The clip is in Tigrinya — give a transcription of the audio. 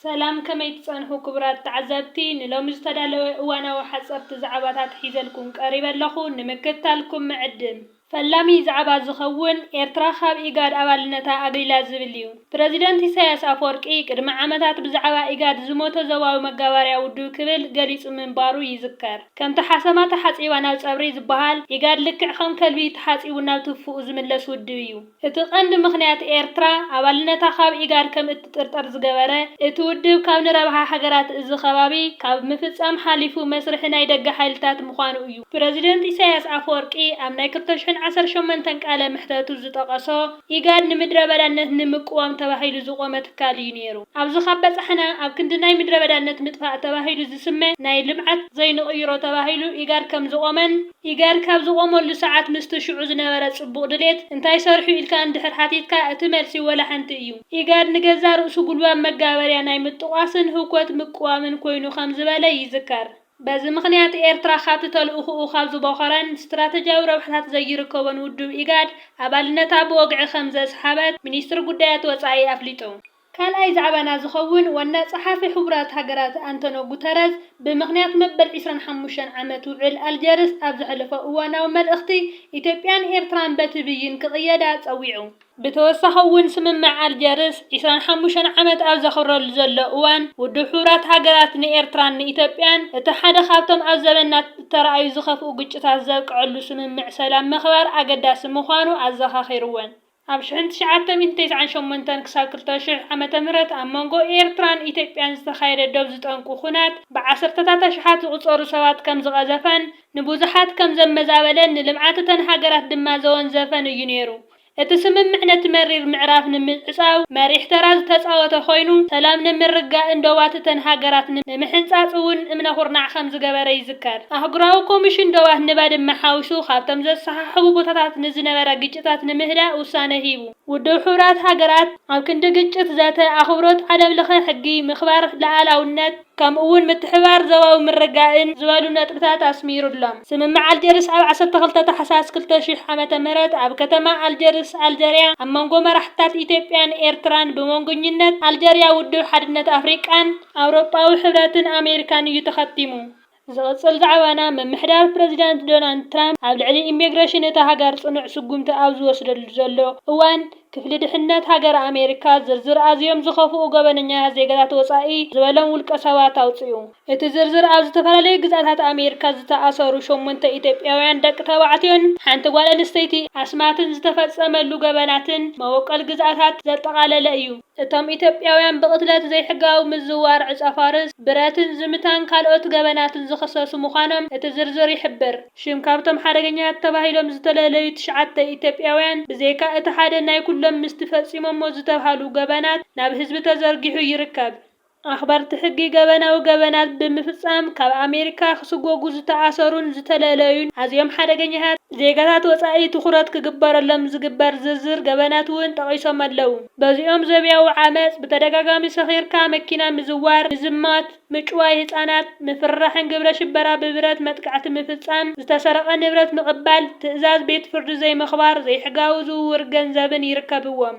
ሰላም ከመይ ትጸንሑ ክቡራት ተዓዛብቲ ንሎሚ ዝተዳለወ እዋናዊ ሓጸርቲ ዛዕባታት ሒዘልኩም ቀሪበ ኣለኹ ንምክትታልኩም ምዕድም። ፈላሚ ዛዕባ ዝኸውን ኤርትራ ካብ ኢጋድ ኣባልነታ ኣግሊላ ዝብል እዩ። ፕረዚደንት ኢሳያስ ኣፍወርቂ ቅድሚ ዓመታት ብዛዕባ ኢጋድ ዝሞተ ዞባዊ መጋባርያ ውድብ ክብል ገሊጹ ምንባሩ ይዝከር። ከምቲ ሓሰማ ተሓጺባ ናብ ጸብሪ ዝበሃል ኢጋድ ልክዕ ከም ከልቢ ተሓጺቡ ናብ ትፉኡ ዝምለስ ውድብ እዩ። እቲ ቀንዲ ምኽንያት ኤርትራ ኣባልነታ ካብ ኢጋድ ከም እትጥርጠር ዝገበረ፣ እቲ ውድብ ካብ ንረብሓ ሃገራት እዚ ከባቢ ካብ ምፍጻም ሓሊፉ መስርሒ ናይ ደገ ሓይልታት ምዃኑ እዩ። ፕረዚደንት ኢሳይያስ ኣፈወርቂ ኣብ ናይ ክልተ ሽሕን ዓሰርተ ሸሞንተን ቃለ መሕተቱ ዝጠቐሶ፣ ኢጋድ ንምድረበዳነት ንምቅዋም ተባሂሉ ዝቖመ ትካል እዩ ነይሩ። ኣብዚ ካብ በጻሕና፣ ኣብ ክንዲ ናይ ምድረበዳነት ምጥፋእ ተባሂሉ ዝስመ ናይ ልምዓት ዘይንቕይሮ ተባሂሉ ኢጋድ ከም ዝቖመን፣ ኢጋድ ካብ ዝቖመሉ ሰዓት ምስቲ ሽዑ ዝነበረ ጽቡቕ ድሌት እንታይ ሰርሑ ኢልካ እንድሕር ሓቲትካ እቲ መልሲ ወላ ሓንቲ እዩ። ኢጋድ ንገዛእ ርእሱ ጉልባብ መጋበርያ ናይ ምጥቋስን ህውከት ምቅዋምን ኮይኑ ከም ዝበለ ይዝከር። በዚ ምኽንያት ኤርትራ ካብቲ ተልእኹኡ ካብ ዝቦኸረን ስትራተጂያዊ ረብሓታት ዘይርከቦን ውድብ ኢጋድ ኣባልነታ ብወግዒ ከም ዘስሓበት ሚኒስትሪ ጉዳያት ወጻኢ ኣፍሊጡ። ካልኣይ ዛዕባና ዝኸውን ዋና ጸሓፊ ሕቡራት ሃገራት ኣንቶኖ ጉተረዝ ብምኽንያት መበል ዕስራን ሓሙሽተን ዓመት ውዕል ኣልጀርስ ኣብ ዘሕለፎ እዋናዊ መልእኽቲ ኢትዮጵያን ኤርትራን በቲ ብይን ክቕየዳ ጸዊዑ። ብተወሳኺ'ውን ስምምዕ ኣልጀርስ ዕስራን ሓሙሽተን ዓመት ኣብ ዘኽብረሉ ዘሎ እዋን ውድብ ሕቡራት ሃገራት ንኤርትራን ንኢትዮጵያን እቲ ሓደ ካብቶም ኣብ ዘበንና እተራእዩ ዝኸፍኡ ግጭታት ዘብቀዐሉ ስምምዕ ሰላም ምኽባር ኣገዳሲ ምዃኑ ኣዘኻኺሩወን። ኣብ ሽሕን ትሽዓተ ሚእትን ተስዓን ሸሞንተን ክሳብ ክልተ ሽሕ ዓመተ ምህረት ኣብ መንጎ ኤርትራን ኢትዮጵያን ዝተኻየደ ዶብ ዝጠንቁ ኹናት ብዓሰርተታት ኣሽሓት ዝቑጸሩ ሰባት ከም ዝቐዘፈን ንቡዙሓት ከም ዘመዛበለን ንልምዓት እተን ሃገራት ድማ ዘወንዘፈን እዩ ነይሩ። እቲ ስምምዕ ነቲ መሪር ምዕራፍ ንምዕጻው መሪሕ ተራ ዝተጻወተ ኾይኑ ሰላም ንምርግጋእን ዶባት እተን ሃገራት ንምሕንጻጽ እውን እምነ ኹርናዕ ከም ዝገበረ ይዝከር። ይዝከር። ኣህጉራዊ ኮሚሽን ዶባት ንባድመ ሓዊሱ ካብቶም ዘሰሓሕቡ ቦታታት ንዝነበረ ግጭታት ንምህዳእ ውሳነ ሂቡ። ውድብ ሕቡራት ሃገራት ኣብ ክንዲ ግጭት ዘተ፣ ኣኽብሮት ዓለምለኸ ሕጊ፣ ምኽባር ልኣላውነት፣ ከምኡ'ውን ምትሕብባር ዞባዊ ምርግጋእን ዝበሉ ነጥብታት ኣስሚሩሎም። ስምምዕ ኣልጀርስ ኣብ ዓሰርተ ክልተ ታሕሳስ ክልተ ሽሕ ዓመተ ምህረት ኣብ ከተማ ኣልጀርስ፣ ኣልጀርያ፣ ኣብ መንጎ መራሕትታት ኢትዮጵያን ኤርትራን ብመንጎኝነት ኣልጀርያ ውድብ ሓድነት ኣፍሪቃን፣ ኣውሮጳዊ ሕብረትን ኣሜሪካን እዩ ተኸቲሙ። ዝቕጽል ዛዕባና፣ ምምሕዳር ፕረዚዳንት ዶናልድ ትራምፕ ኣብ ልዕሊ ኢሚግሬሽን እታ ሃገር ጽኑዕ ስጉምቲ ኣብ ዝወስደሉ ዘሎ እዋን፣ ክፍሊ ድሕነት ሃገረ ኣሜሪካ ዝርዝር ኣዝዮም ዝኸፍኡ ገበነኛታት ዜጋታት ወጻኢ ዝበሎም ውልቀሰባት ኣውጺኡ። እቲ ዝርዝር ኣብ ዝተፈላለዩ ግዝኣታት ኣሜሪካ ዝተኣሰሩ ሸሞንተ ኢትዮጵያውያን ደቂ ተባዕትዮን ሓንቲ ጓል ኣንስተይቲ ኣስማትን ዝተፈጸመሉ ገበናትን መበቆል ግዝኣታት ዘጠቓለለ እዩ። እቶም ኢትዮጵያውያን ብቕትለት፣ ዘይሕጋዊ ምዝዋር ዕጸፋርስ፣ ብረትን ዝምታን ካልኦት ገበናትን ዝኽሰሱ ምዃኖም እቲ ዝርዝር ይሕብር። ሽም ካብቶም ሓደገኛታት ተባሂሎም ዝተለለዩ ትሽዓተ ኢትዮጵያውያን ብዘይካ እቲ ሓደ ናይ ኩሎም ምስቲ ፈጺሞሞ ዝተብሃሉ ገበናት ናብ ህዝቢ ተዘርጊሑ ይርከብ። ኣኽበርቲ ሕጊ ገበናዊ ገበናት ብምፍጻም ካብ ኣሜሪካ ክስጎጉ ዝተኣሰሩን ዝተለለዩን ኣዝዮም ሓደገኛታት ዜጋታት ወጻኢ ትኹረት ክግበረሎም ዝግበር ዝርዝር ገበናት'ውን ጠቒሶም ኣለው። በዚኦም ዘብያዊ ዓመጽ፣ ብተደጋጋሚ ሰኺርካ መኪና ምዝዋር፣ ምዝማት፣ ምጭዋይ ህጻናት፣ ምፍርራሕን ግብረ ሽበራ ብብረት መጥቃዕቲ ምፍጻም፣ ዝተሰረቐ ንብረት ምቕባል፣ ትእዛዝ ቤት ፍርዲ ዘይምኽባር፣ ዘይሕጋዊ ዝውውር ገንዘብን ይርከብዎም።